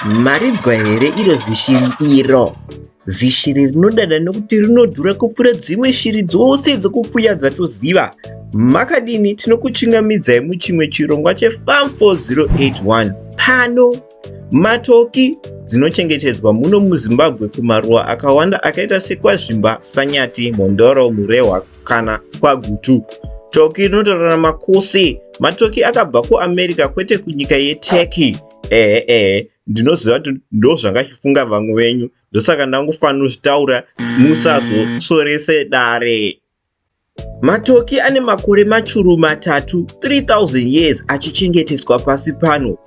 Maridzwa here iro zishiri iro? Zishiri rinodada nokuti rinodhura kupfuura dzimwe shiri dzose dzokupfuya dzatoziva. Makadini? Tinokuchingamidzai muchimwe chirongwa cheFarm 4081 pano. Matoki dzinochengetedzwa muno muZimbabwe kumaruwa akawanda akaita sekwazvimba, sanyati, mhondoro, murehwa kana kwagutu. Toki rinotaurwa namakusi. Matoki akabva kuAmerica kwete kunyika yeTurkey. Ehe ehe ndinoziva kuti ndozvangachifunga vamwe venyu ndosaka ndangofanira kuzvitaura musazosorese dare. Matoki ane makore machuru matatu 3000 years achichengeteswa pasi pano.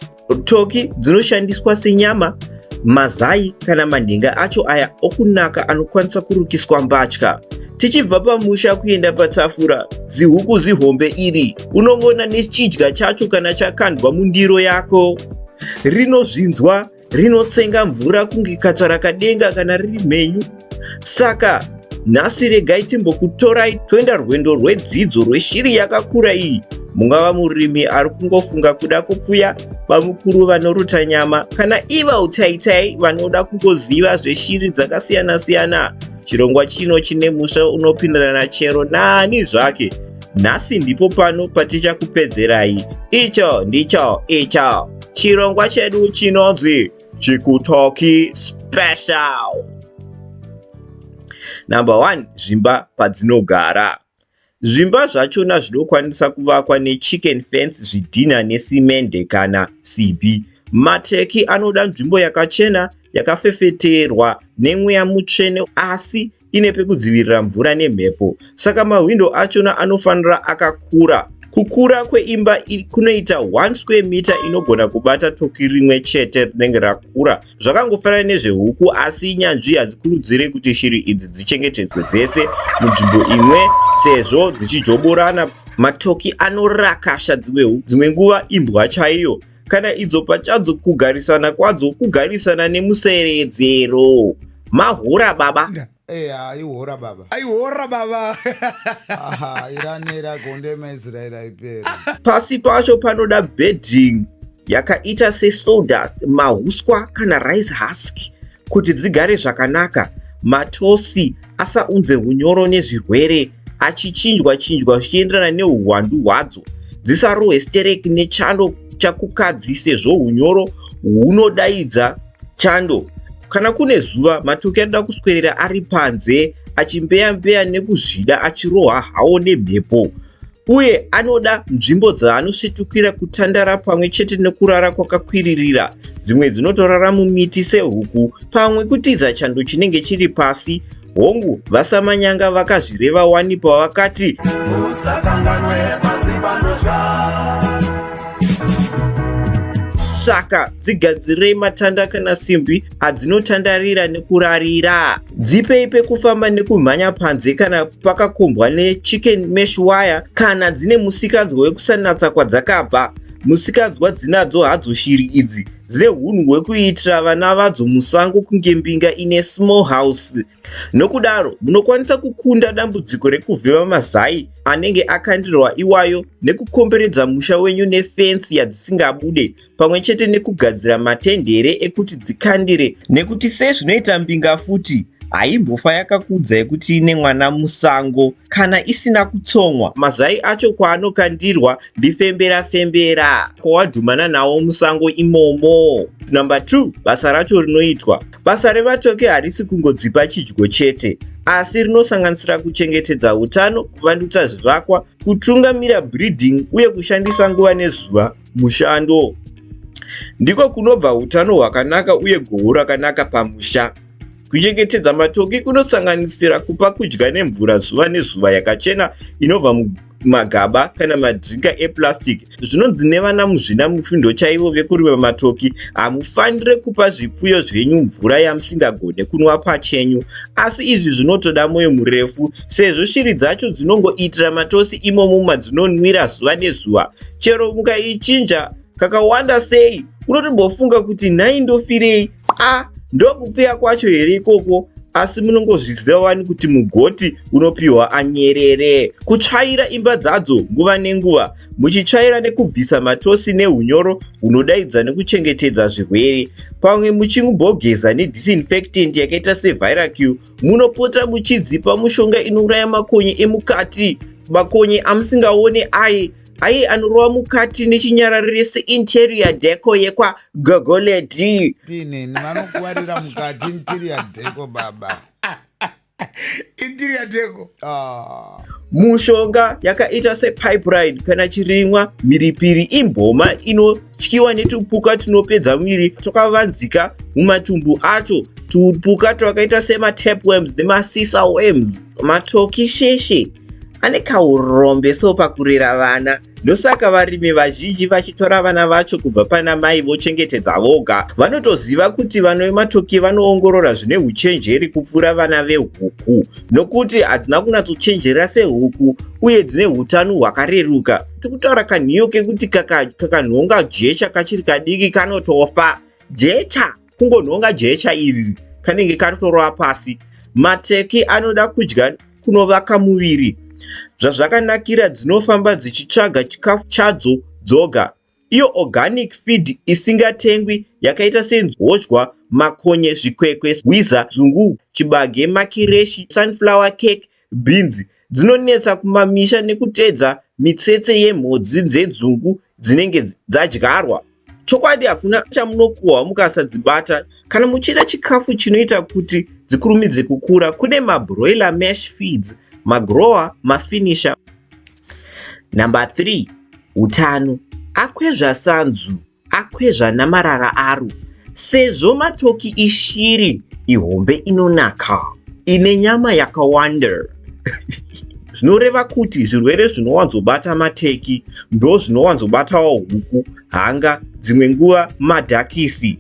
Toki dzinoshandiswa senyama, mazai kana manhenga acho aya okunaka anokwanisa kurukiswa mbatya. Tichibva pamusha kuenda patafura, zihuku zihombe iri unongona nechidya chacho kana chakandwa mundiro yako. Rinozvinzwa rinotsenga mvura kunge katsvarakadenga kana riri mhenyu saka nhasi regai timbokutorai toenda rwendo rwedzidzo rweshiri yakakura iyi mungava murimi ari kungofunga kuda kupfuya bamukuru vanoruta nyama kana iva utaitai vanoda kungoziva zveshiri dzakasiyana-siyana chirongwa chino chine musha unopindirana chero naani zvake nhasi ndipo pano patichakupedzerai icho ndicho icho chirongwa chedu chinonzi chikutoki special number one zvimba padzinogara zvimba zvachona zvinokwanisa kuvakwa nechicken fence zvidhina nesimende kana simbi mateki anoda nzvimbo yakachena yakafefeterwa nemweya mutsvene asi ine pekudzivirira mvura nemhepo saka mahwindo achona anofanira akakura kukura kweimba kunoita 1 square meter inogona kubata toki rimwe chete rinenge rakura zvakangofanana nezvehuku asi nyanzvi hadzikurudzire kuti shiri idzi dzichengetedzwe dzese munzvimbo imwe sezvo dzichijoborana matoki anorakasha dzimwe nguva imbwa chaiyo kana idzo pachadzo kugarisana kwadzo kugarisana nemuseredzero mahora baba eh, aihora baba aihora baba iranera gonde maisraeri aipera pasi pacho panoda bedding yakaita sesodust mahuswa kana rice husk kuti dzigare zvakanaka matosi asaunze unyoro nezvirwere achichinjwa chinjwa zvichienderana neuhwandu hwadzo dzisarohwe stereki nechando chakukadzi sezvo unyoro hunodaidza chando kana kune zuva matoki anoda kuswerera ari panze achimbeyambeya nekuzvida achirohwa hawo nemhepo uye anoda nzvimbo dzaanosvetukira kutandara pamwe chete nekurara kwakakwiririra dzimwe dzinotorara mumiti sehuku pamwe kutiza chando chinenge chiri pasi hongu vasamanyanga vakazvireva wani pavakati saka dzigadzirei matanda kana simbi adzinotandarira nekurarira dzipei pekufamba nekumhanya panze kana pakakombwa nechicken mesh wire kana dzine musikanzwa wekusanatsa kwadzakabva musikanzwa dzinadzo hadzo shiri idzi dzine hunhu hwekuitira vana vadzo musango kunge mbinga ine small house nokudaro munokwanisa kukunda dambudziko rekuvhema mazai anenge akandirwa iwayo nekukomberedza musha wenyu nefensi yadzisingabude pamwe chete nekugadzira matendere ekuti dzikandire nekuti sezvinoita mbinga futi haimbofa yakakudza yekuti ine mwana musango kana isina kutsonwa mazai acho kwaanokandirwa ndifembera fembera kwawadhumana nawo musango imomo number 2 basa racho rinoitwa basa revatoke harisi kungodzipa chidyo chete asi rinosanganisira kuchengetedza utano kuvandutsa zvivakwa kutungamira breeding uye kushandisa nguva nezuva mushando ndiko kunobva utano hwakanaka uye goho rakanaka pamusha kuchengetedza matoki kunosanganisira kupa kudya nemvura zuva nezuva yakachena inobva magaba kana madrinka eplastic zvinonzi nevana muzvina mufundo chaivo vekurima matoki hamufanire kupa zvipfuyo zvenyu mvura yamusingagone kunwa pachenyu asi izvi zvinotoda mwoyo murefu sezvo shiri dzacho dzinongoitira matosi imomo madzinonwira zuva nezuva chero mukaichinja kakawanda sei unotombofunga kuti nhai ndofirei a ndokupfeya kwacho here ikoko asi munongozviziva wani kuti mugoti unopiwa anyerere kutsvaira imba dzadzo nguva nenguva muchitsvaira nekubvisa matosi neunyoro hunodaidza nekuchengetedza zvirwere pamwe muchingobogeza nedisinfectant yakaita seviracu Munopota muchidzipa mushonga inouraya makonye emukati. Makonye amusingaone aye aye anorova mukati nechinyararire seinterior deco yekwa gogoledi. Pineni vanokuvarira mukati interior deco baba. interior deco. Ah. Mushonga yakaita sepibrine kana chirimwa mhiripiri imboma ino tyiwa netupuka tunopedza muviri twakavanzika mumatumbu acho tupuka twakaita sematapworms nemasisa worms matoki sheshe ane kaurombe so pakurera vana ndosaka varimi vazhinji vachitora vana vacho kubva pana mai vochengetedza voga vanotoziva kuti vana vematoki vanoongorora zvine uchenjeri kupfuura vana vehuku nokuti hadzina kunatsochenjera sehuku uye dzine utano hwakareruka tikutaura kanhiyo kekuti kakanhonga jecha kachiri kadiki kanotofa jecha kungonhonga jecha iri kanenge katotorova pasi mateki anoda kudya kunovaka muviri zvazvakanakira dzinofamba dzichitsvaga chikafu chadzo dzoga iyo organic feed isingatengwi yakaita senhodywa makonye zvikwekwe hwiza zungu chibage makireshi sunflower cake Bhinzi dzinonetsa kumamisha nekuteedza mitsetse yemhodzi dzedzungu dzinenge dzadyarwa. Chokwadi hakuna chamunokuhwa mukasadzibata. Kana muchida chikafu chinoita kuti dzikurumidze kukura, kune mabroiler mash feeds, magrower, mafinisher. Number 3, Utano. Akwezva sanzu. Akwezva namarara aro sezvo matoki ishiri ihombe inonaka ine nyama yakawanda zvinoreva kuti zvirwere zvinowanzobata mateki ndo zvinowanzobatawo huku hanga dzimwe nguva madhakisi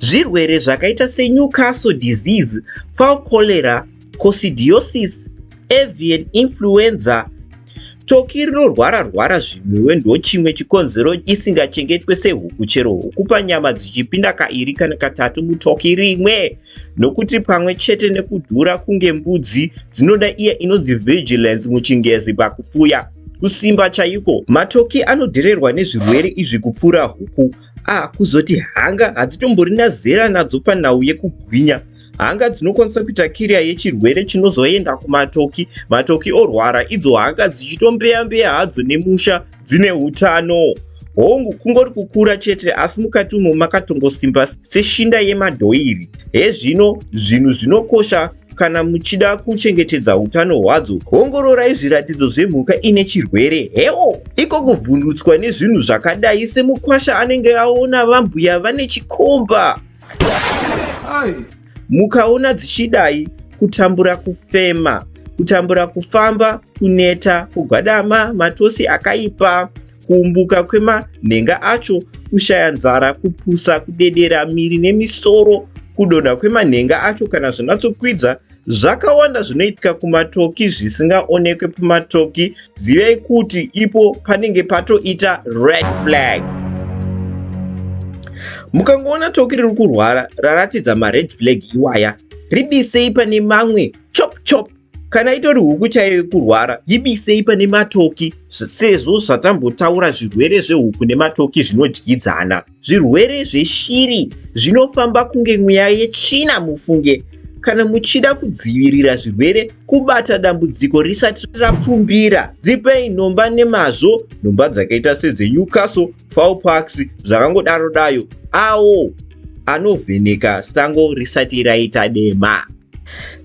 zvirwere zvakaita senewcastle disease fowl cholera coccidiosis, avian influenza, toki rinorwara rwara zvimwewe ndochimwe chikonzero isingachengetwe sehuku chero huku panyama dzichipinda kairi kana katatu mutoki rimwe nokuti pamwe chete nekudhura kunge mbudzi dzinoda iya inonzi vigilance muchingezi pakupfuya kusimba chaiko matoki anodhererwa nezvirwere izvi kupfuura huku a ah, kuzoti hanga hadzitomborina zera nadzo panhau yekugwinya hanga dzinokwanisa kuita kiriya yechirwere chinozoenda kumatoki matoki orwara idzo hanga dzichitombeyambeya hadzo nemusha dzine utano hongu kungori kukura chete asi mukati umo makatongosimba seshinda yemadhoiri hezvino zvinhu zvinokosha kana muchida kuchengetedza utano hwadzo ongororai zviratidzo zvemhuka ine chirwere hewo iko kuvhundutswa nezvinhu zvakadai semukwasha anenge aona vambuya vane chikomba mukaona dzichidai kutambura kufema kutambura kufamba kuneta kugwadama matosi akaipa kuumbuka kwemanhenga acho kushaya nzara kupusa kudedera miri nemisoro kudonha kwemanhenga acho kana zvinatsokwidza Zvakawanda zvinoitika kumatoki zvisingaonekwe pamatoki, zivai kuti ipo panenge patoita red flag. Mukangoona toki riri kurwara raratidza mared flag iwaya, ribisei pane mamwe chop chop kana itori huku chaiyo yekurwara yibisei pane matoki sezvo zvatambotaura zvirwere zvehuku nematoki zvinodyidzana Zvirwere zveshiri zvinofamba kunge mweya yetsvina mufunge. Kana muchida kudzivirira zvirwere kubata dambudziko risati rapfumbira, dzipei nhomba nemazvo nhomba dzakaita sedzeNewcastle, Fowlparks zvakangodaro dayo awo anovheneka sango risati raita dema.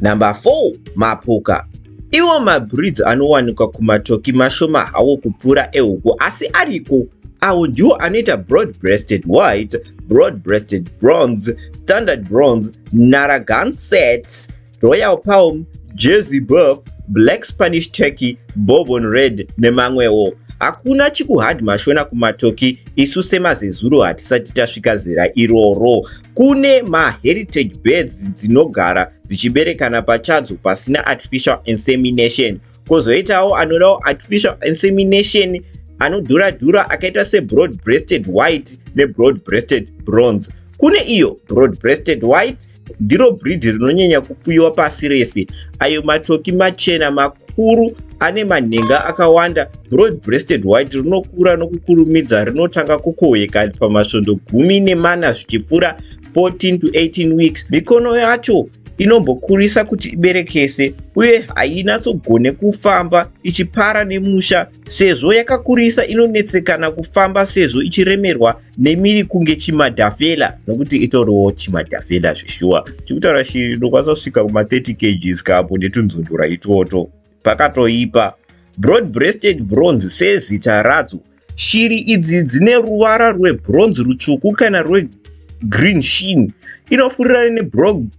Number 4 mapoka iwo mabreeds anowanikwa kumatoki mashoma hawo kupfuura ehuku asi ariko awo ndiwo anoita broad breasted white broad breasted bronze standard bronze naragan set royal palm jersey buff black spanish turkey bobon red nemamwewo hakuna chikuhad mashona kumatoki isu semazezuro hatisati tasvika zera iroro Kune maheritage birds dzinogara dzichiberekana pachadzo pasina artificial insemination. Kozoitawo anodawo artificial insemination anodhura dhura akaita sebroad breasted white nebroad breasted bronze. Kune iyo broad breasted white ndiro breed rinonyanya kupfuyiwa pasi rese ayo matoki machena makuru ane manhenga akawanda broad breasted white rinokura nokukurumidza rinotanga kukohweka pamasvondo gumi nemana zvichipfuura 14 to 18 weeks mikono yacho inombokurisa kuti iberekese uye hainatsogone kufamba ichipara nemusha sezvo yakakurisa inonetsekana kufamba sezvo ichiremerwa nemiri kunge chimadhafela nokuti itoriwo chimadhafela zveshuwa chikutaura shiri ndokwanisa kusvika kuma 30 kgs kapo netunzundura itwoto Pakatoipa. Broad breasted bronze sezita radzo, shiri idzi dzine ruvara rwebronze rutsvuku kana rwegreen sheen inofurirana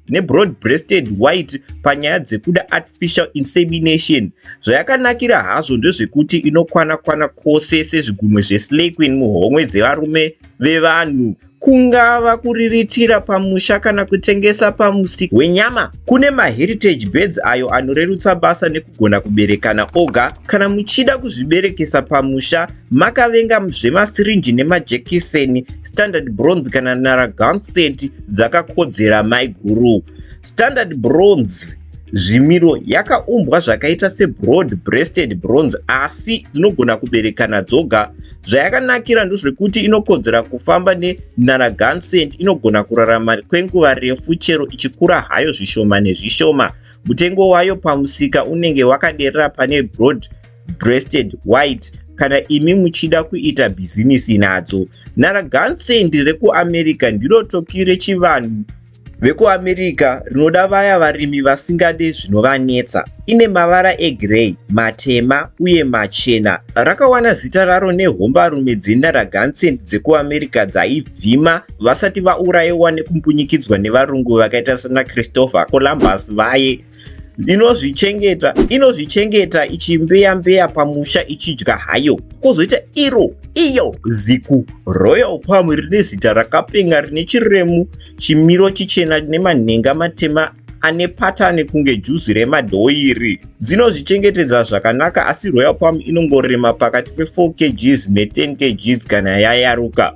nebroad breasted white panyaya dzekuda artificial insemination. Zvayakanakira hazvo ndezvekuti inokwana kwana kwose sezvigunwe zveslay queen muhomwe dzevarume vevanhu. kungava kuriritira pamusha kana kutengesa pamusika wenyama. Kune maheritage birds ayo anorerutsa basa nekugona kuberekana oga. Kana muchida kuzviberekesa pamusha makavenga zvemasirinji nemajekiseni, standard bronze kana naragansent dzakakodzera maiguru. Standard bronze Zvimiro yakaumbwa zvakaita sebroad breasted bronze asi dzinogona kuberekana dzoga. Zvayakanakira ndozvekuti inokodzera kufamba nenaragansent inogona kurarama kwenguva refu chero ichikura hayo zvishoma nezvishoma. Mutengo wayo pamusika unenge wakaderera pane broad breasted white kana imi muchida kuita bhizimisi nadzo. Naragansent rekuamerica ndiro toki rechivanhu VekuAmerica rinoda vaya varimi vasingade zvinovanetsa. Ine mavara egrey, matema uye machena. Rakawana zita raro nehombarume dzeNarragansett dzekuAmerica dzaivhima vasati vaurayiwa nekumbunyikidzwa nevarungu vakaita sanaChristopher Columbus vaye inozvichengeta inozvichengeta ichimbeya mbeya pamusha ichidya hayo kwozoita iro iyo ziku royal palm rine zita rakapenga rine chiremu chimiro chichena nemanhenga matema ane patani kunge juzi remadhoiri dzinozvichengetedza zvakanaka asi royal palm inongorema pakati pe4 kgs ne10 kgs kana yayaruka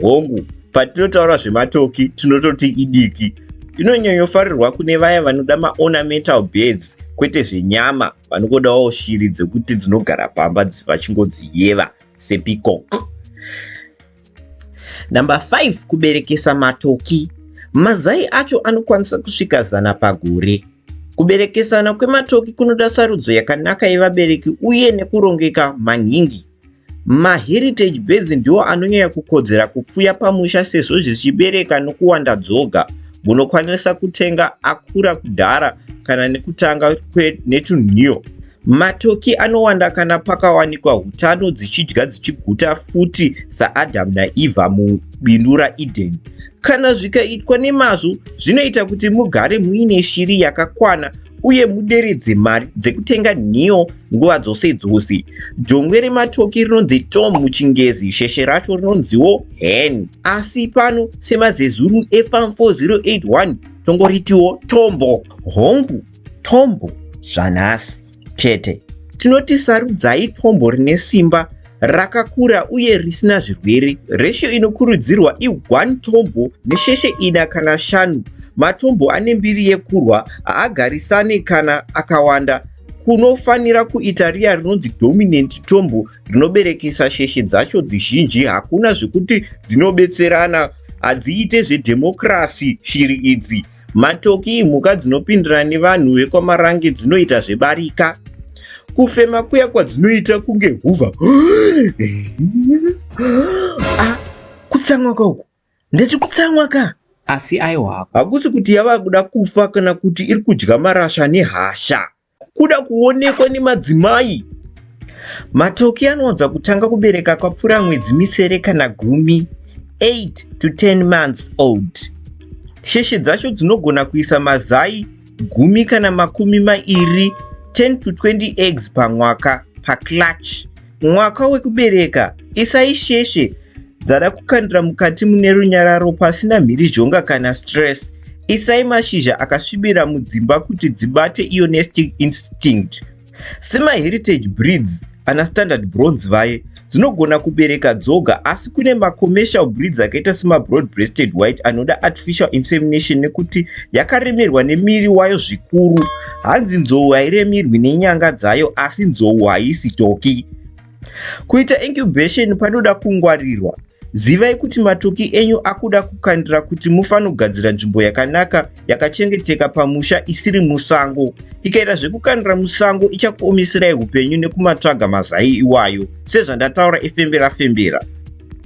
Hongu, patinotaura zvematoki tinototi idiki. Inonyanyofarirwa kune vaya vanoda maornamental birds kwete zvenyama vanongodawo shiri dzekuti dzinogara pamba vachingodziyeva sepeacock. Number 5 kuberekesa matoki. Mazai acho anokwanisa kusvika zana pagore. Kuberekesana kwematoki kunoda sarudzo yakanaka yevabereki uye nekurongeka maningi. Maheritage birds ndiwo anonyanya kukodzera kupfuya pamusha sezvo zvichibereka nokuwanda dzoga. Munokwanisa kutenga akura kudhara kana nekutanga netunhiyo. Matoki anowanda kana pakawanikwa hutano dzichidya dzichiguta futi saAdam naEva mubindu raEden. Kana zvikaitwa nemazvo, zvinoita kuti mugare muine shiri yakakwana uye muderedze mari dzekutenga nhiyo nguva dzose dzose. Jongwe rematoki rinonzi tom muchingezi, sheshe racho rinonziwo hen. Asi pano semazezuru efam 4081 tongoritiwo tombo. Hongu, tombo zvanhasi chete. Tinoti sarudzai tombo rine simba rakakura uye risina zvirwere. Ratio inokurudzirwa i 1 tombo nesheshe ina kana shanu. Matombo ane mbiri yekurwa haagarisane kana akawanda. Kunofanira kuita riya rinonzi dominant tombo rinoberekesa sheshe dzacho dzizhinji. Hakuna zvekuti dzinobetserana, hadziite zvedhemokirasi shiri idzi. Matoki imhuka dzinopindira nevanhu vekwamarange dzinoita zvebarika kufema kuya kwadzinoita kunge huvha ah, kutsamwa ka uku ndeti kutsamwa ka asi aiwa hakusi kuti yava kuda kufa kana kuti iri kudya marasha nehasha kuda kuonekwa nemadzimai. Matoki anowanza kutanga kubereka kwapfuura mwedzi misere kana gumi, 8 to 10 months old. Sheshe dzacho dzinogona kuisa mazai gumi kana makumi mairi, 10 to 20 eggs pamwaka, paclutch. Mwaka wekubereka, isai sheshe dzada kukandira mukati mune runyararo pasina mhirizhonga kana stress. Isai mashizha akasvibira mudzimba kuti dzibate iyo nesting instinct. SemaHeritage breeds ana standard bronze vaye, dzinogona kubereka dzoga asi kune macommercial breeds akaita semabroad breasted white anoda artificial insemination nekuti yakaremerwa nemiri wayo zvikuru. Hanzi nzou hairemirwi nenyanga dzayo asi nzou haisi toki. Kuita incubation panoda kungwarirwa. Zivai kuti matoki enyu akuda kukandira kuti mufanogadzira nzvimbo yakanaka yakachengeteka pamusha isiri musango. Ikaita zvekukandira musango ichakuomeserai upenyu nekumatsvaga mazai iwayo sezvandataura efembera fembera.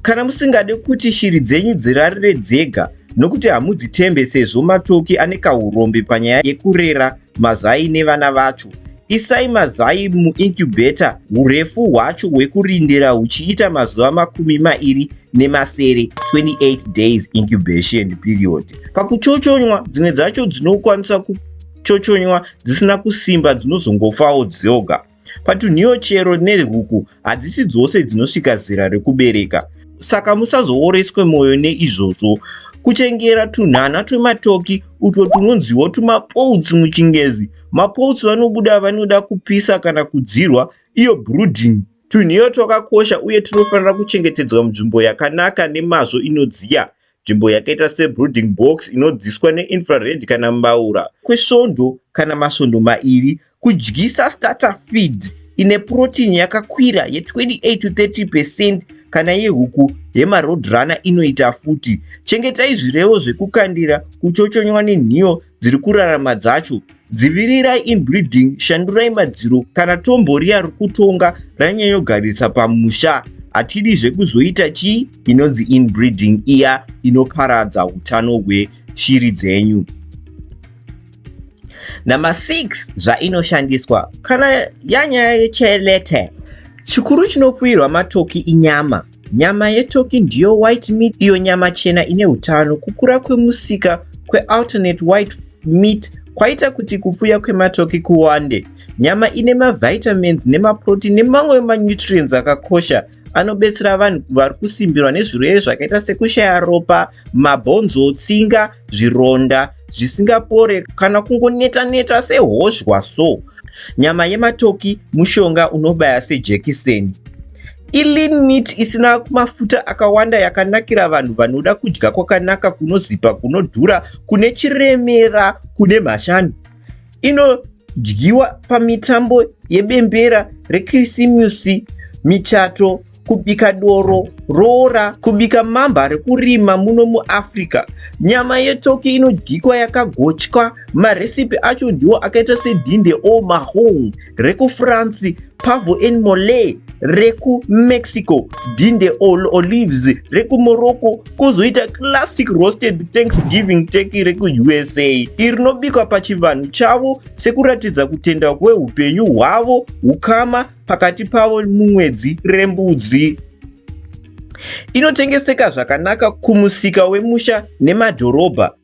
Kana musingade kuti shiri dzenyu dzirarire dzega, nokuti hamudzitembe sezvo matoki ane kaurombe panyaya yekurera mazai nevana vacho isai mazai muincubator urefu hwacho hwekurindira huchiita mazuva makumi mairi nemasere 28 days incubation period pakuchochonywa dzimwe dzacho dzinokwanisa kuchochonywa dzisina kusimba dzinozongofawo dzoga Patunhiyo chero nehuku hadzisi dzose dzinosvika zera rekubereka, saka musazooreswe mwoyo neizvozvo. Kuchengera tunhana twematoki utwo tunonziwo tumapouts muchingezi. Mapouts vanobuda vanoda kupisa kana kudzirwa, iyo brooding. Tunhiyo twakakosha uye tunofanira kuchengetedzwa munzvimbo yakanaka nemazvo inodziya. Nzvimbo yakaita sebrooding box inodziswa neinfrared kana mbaura kwesvondo kana masvondo mairi. Kudyisa starter feed ine protein yakakwira ye28 to 30 percent kana yehuku yemaroadrunner inoita futi. Chengetai zvirevo zvekukandira, kuchochonywa nenhiyo dziri kurarama dzacho dzivirirai inbreeding shandurai madziro kana tombo riya rikutonga ranyanyogarisa pamusha hatidi zvekuzoita chii inonzi inbreeding iya inoparadza utano hweshiri dzenyu number 6 zvainoshandiswa kana yanyaya yechelete chikuru chinopfuirwa matoki inyama Nyama yetoki ndiyo white meat iyo nyama chena ine utano. Kukura kwemusika kwealternate white meat kwaita kuti kupfuya kwematoki kuwande. Nyama ine mavitamins nemaprotein nemamwe manutrients akakosha anobetsera vanhu vari kusimbirwa nezvirwere zvakaita sekushaya ropa, mabhonzo, tsinga, zvironda zvisingapore kana kungoneta neta sehoshwa so. Nyama yematoki mushonga unobaya sejekiseni. Ilean meat isina mafuta akawanda yakanakira vanhu vanoda kudya kwakanaka kunozipa kunodhura kune chiremera kune mhashani. Ino dyiwa pamitambo yebembera rekirisimusi michato kubika doro, roora, kubika mamba rekurima muno muAfrica. Nyama yetoki inodyikwa yakagochwa, maresipi acho ndiwo akaita sedinde o mahong rekuFrance, pavo en mole rekuMexico, dinde all olives rekuMorocco, kozoita classic roasted Thanksgiving turkey rekuUSA iri rinobikwa pachivanhu chavo sekuratidza kutenda kweupenyu hwavo, hukama pakati pavo mumwedzi rembudzi inotengeseka zvakanaka kumusika wemusha nemadhorobha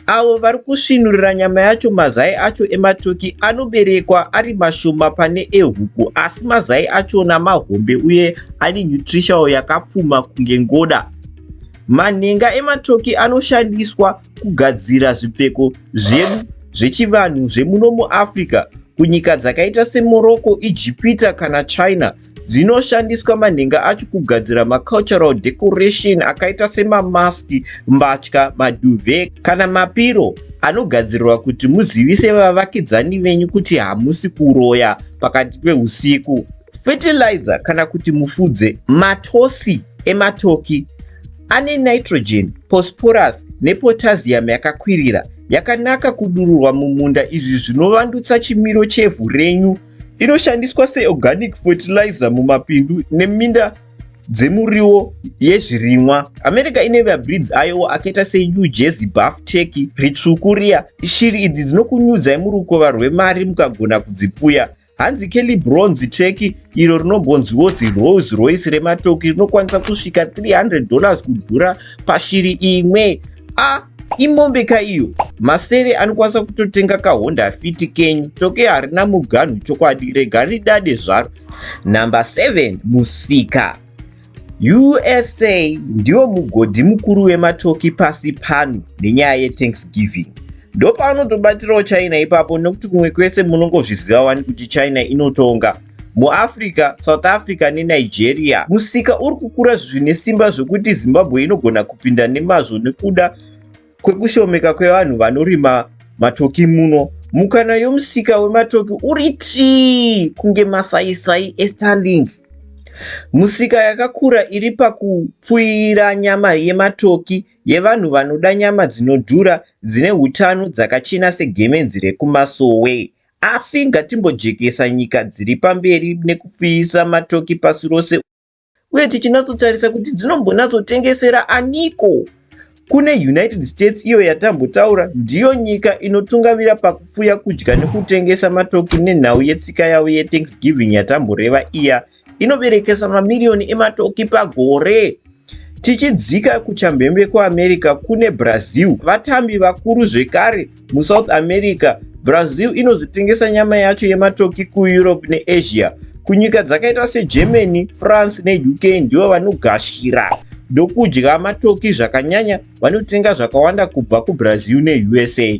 avo vari kusvinurira nyama yacho mazai acho ematoki anoberekwa ari mashoma pane ehuku asi mazai achona mahombe uye ane nutritial yakapfuma kunge ngoda manhenga ematoki anoshandiswa kugadzira zvipfeko zvedu zvechivanhu zvemuno muafrica kunyika dzakaita semorocco ijipita kana china dzinoshandiswa manhenga acho kugadzira macultural decoration akaita semamaski mbatya maduve kana mapiro anogadzirirwa kuti muzivise vavakidzani venyu kuti hamusi kuroya pakati peusiku fertilizer kana kuti mufudze matosi ematoki Ane nitrogen, phosphorus nepotassium yakakwirira yakanaka kudururwa mumunda izvi zvinovandutsa chimiro chevhu renyu. Inoshandiswa seorganic fertilizer mumapindu neminda dzemuriwo yezvirimwa. America ine mabreeds ayowo akaita seNew Jersey Buff Turkey, Ritsvuku riya. Shiri idzi dzinokunyudzai murukova rwemari mukagona kudzipfuya. Hanzi Kelly Bronze Cheki iro rinombonziwo ziRolls Royce rematoki rinokwanisa kusvika 300 dollars kudhura pashiri imwe. A imombe ka iyo. Masere anokwanisa kutotenga kaHonda Fit kenyu. Toke harina muganhu chokwadi rega ridade zvaro. Number 7 musika. usa ndiwo mugodhi mukuru wematoki pasi pano nenyaya yethanksgiving ndopaunotobatirawo china ipapo nekuti kumwe kwese munongozviziva wani kuti china inotonga muafrica south africa nenigeria musika uri kukura zvine simba zvekuti zimbabwe inogona kupinda nemazvo nekuda kwekushomeka kwevanhu vanorima matoki muno mukana yomusika wematoki uri tii kunge masaisai estarlink musika yakakura iri pakupfuira nyama yematoki yevanhu vanoda nyama dzinodhura dzine utano dzakachena segemenzi rekumasowe asi ngatimbojekesa nyika dziri pamberi nekupfiyisa matoki pasi rose uye tichinatsotarisa kuti dzinombonatsotengesera aniko kune united states iyo yatambotaura ndiyo nyika inotungamira pakupfuya kudya nekutengesa matoki nenhau yetsika yavo yethanksgiving yatamboreva iya inoberekesa mamiriyoni ematoki pagore tichidzika kuchamhembe kuamerica kune brazil vatambi vakuru zvekare MuSouth America, Brazil inozotengesa nyama yacho yematoki kuEurope neAsia. Kunyika dzakaita seGermany, France neUK ndivo vanogashira ndokudya matoki zvakanyanya vanotenga zvakawanda kubva kuBrazil neUSA.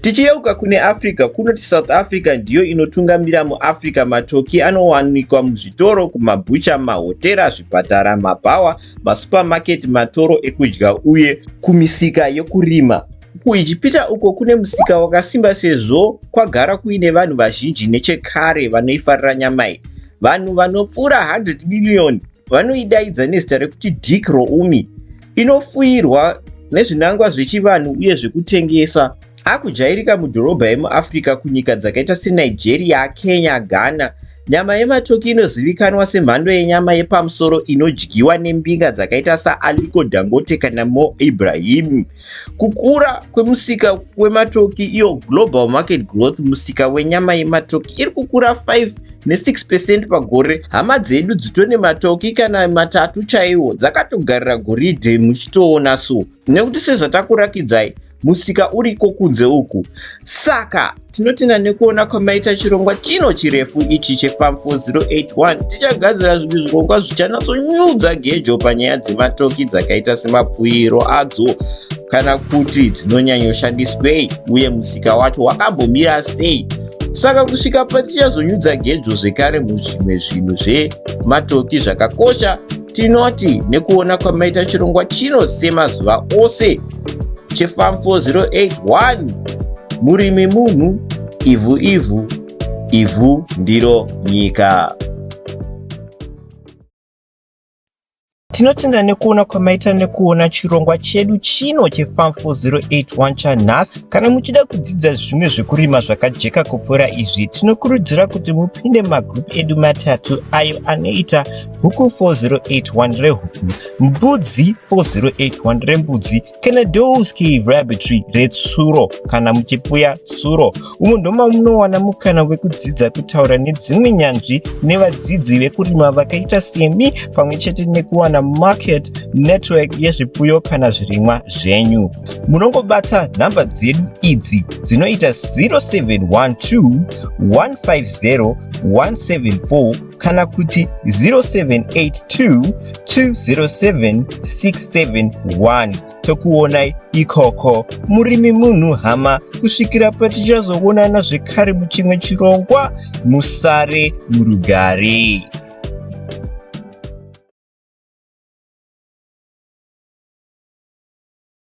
Tichiyeuka kune Africa, kunoti South Africa ndiyo inotungamira muAfrica. Matoki anowanikwa muzvitoro, kumabhucha, mahotera, zvipatara, mabhawa masupamaketi, matoro ekudya uye kumisika yokurima. KuIjipita uko kune musika wakasimba sezvo kwagara kuine vanhu vazhinji nechekare vanoifarira nyama iyi, vanhu vanopfuura 100 miriyoni vanoidaidza nezita rekuti dik roumi, inofuyirwa nezvinangwa zvechivanhu uye zvekutengesa. Akujairika mudhorobha emuAfrica kunyika dzakaita seNigeria, Kenya, Ghana. Nyama yematoki inozivikanwa semhando yenyama yepamusoro inodyiwa nembinga dzakaita saAliko Dangote kana Mo Ibrahim. Kukura kwemusika wematoki iyo global market growth musika wenyama yematoki iri kukura 5 ne6 percent pagore. Hama dzedu dzitone matoki kana matatu chaiwo dzakatogarira goridhe muchitoona so nekuti sezvatakurakidzai musika uriko kunze uku saka tinotenda nekuona kwamaita chirongwa chino chirefu ichi chefam 4081 tichagadzira zvimwe zvirongwa zvichanatsonyudza gejo panyaya dzematoki dzakaita semapfuiro adzo kana kuti dzinonyanyoshandiswei uye musika wacho wakambomira sei saka kusvika patichazonyudza gejo zvekare muzvimwe zvinhu zvematoki zvakakosha Tinoti nekuona kwamaita chirongwa chino semazuva ose cheFarm 4081 murimi munhu ivhu ivhu ivhu ndiro nyika. Tinotenda nekuona kwamaita nekuona chirongwa chedu chino cheFarm 4081 chanhasi. Kana muchida kudzidza zvimwe zvekurima zvakajeka kupfuura izvi, tinokurudzira kuti mupinde mumagroup edu matatu ayo anoita huku 4081 rehuku mbudzi 4081 rembudzi kana dowski rabbitry retsuro kana muchipfuya tsuro umo ndoma munowana mukana wekudzidza kutaura nedzimwe nyanzvi nevadzidzi vekurima vakaita semi pamwe chete nekuwana market network yezvipfuyo kana zvirimwa zvenyu munongobata nhamba dzedu idzi dzinoita 0712 150 174 kana kuti 0782207671 tokuonai ikoko murimi munhu hama kusvikira patichazoonana zvekare muchimwe chirongwa musare murugare